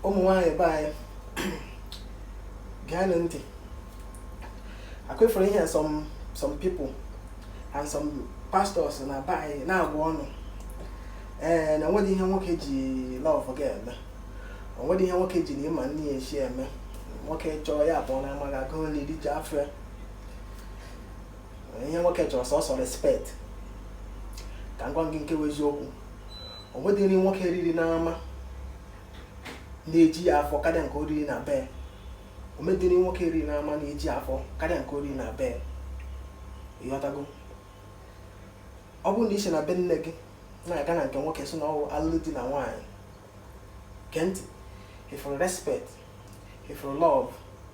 ụmụ nwaanyị be anyị geenụ ntị akwefere ihe some people and some pastors na be anyị na-agwa ụnụ ee eh, na onweghị ihe nwoke ji love gị eme onweghị ihe nwoke ji na ị ma nri esi eme nwoke chọọ ya apụọ n'ama gaa gọọ nri riju afọ ya ihe nwoke chọrọ sọsọ respect ka m gwa gị nke wụ eziokwu o nweghị nri nwoke riri n'ama na-eju ya afọ karịa nke o riri na be ya o nweghị nri nwoke riri n'ama na-eju ya afọ karịa nke o riri na be ya ịghọtago ọ bụrụ na ị si na be nne gị na-aga na nke nwoke sị na ọ wụ alụlụ di na nwaanyị gee ntị ị fụrụ respect ị fụrụ love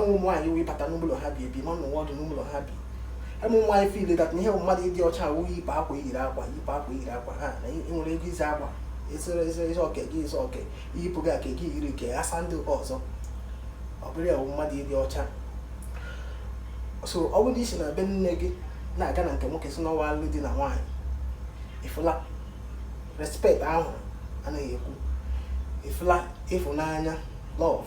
ụmụ nwaanyị wụ ị bata n'ụlọ ha bi ebi ị ma nọnwu ọdụ n'ụlọ ha bi ụmụ nwaanyị feel that na ihe bụ mmadụ ịdị ọcha wụ iyipụ akwa yiri akwa iyipụ akwa yiri akwa ha na nwere ego ịzụ akwa ịzụrụ ịzụ ịzụ okay ịzụ okay iyipụ gị aka gị yiri nke a saa ndị ọzọ ọ bụrụ ya bụ mmadụ ịdị ọcha so ọ bụrụ i si na be nne gị na-aga na nke nwoke sị na ọ wụ alụ di na nwaanyị ị fụla respect ahụ a na-ekwu ị fụla ịfụnanya love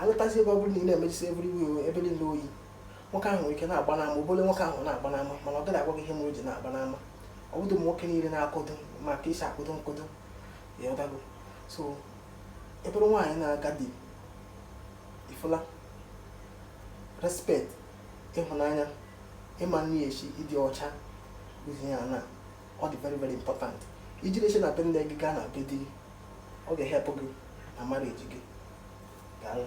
alụtazi ebe ọ bụrụ na ị na-emechisi ebiri iwe iwe ebe niile oyi nwoke ahụ nwere ike na-agba n'ama ọ bụrụ nwoke ahụ na-agba n'ama mana ọ gaghị agwa gị ihe mere o ji na-agba n'ama ọ bụdị ụmụ nwoke niile na-akatọ ma ka e si akatọ nkatọ ịghọtago so ị bụrụ nwaanyị na-aga di ị fụla respect ịhụnanya ịma nri esi ịdị ọcha ihe anọ a dị very very important i jiri ya si na be nne gị gaa na be di gị ọ ga-ehelp gị na marriage gị daalụ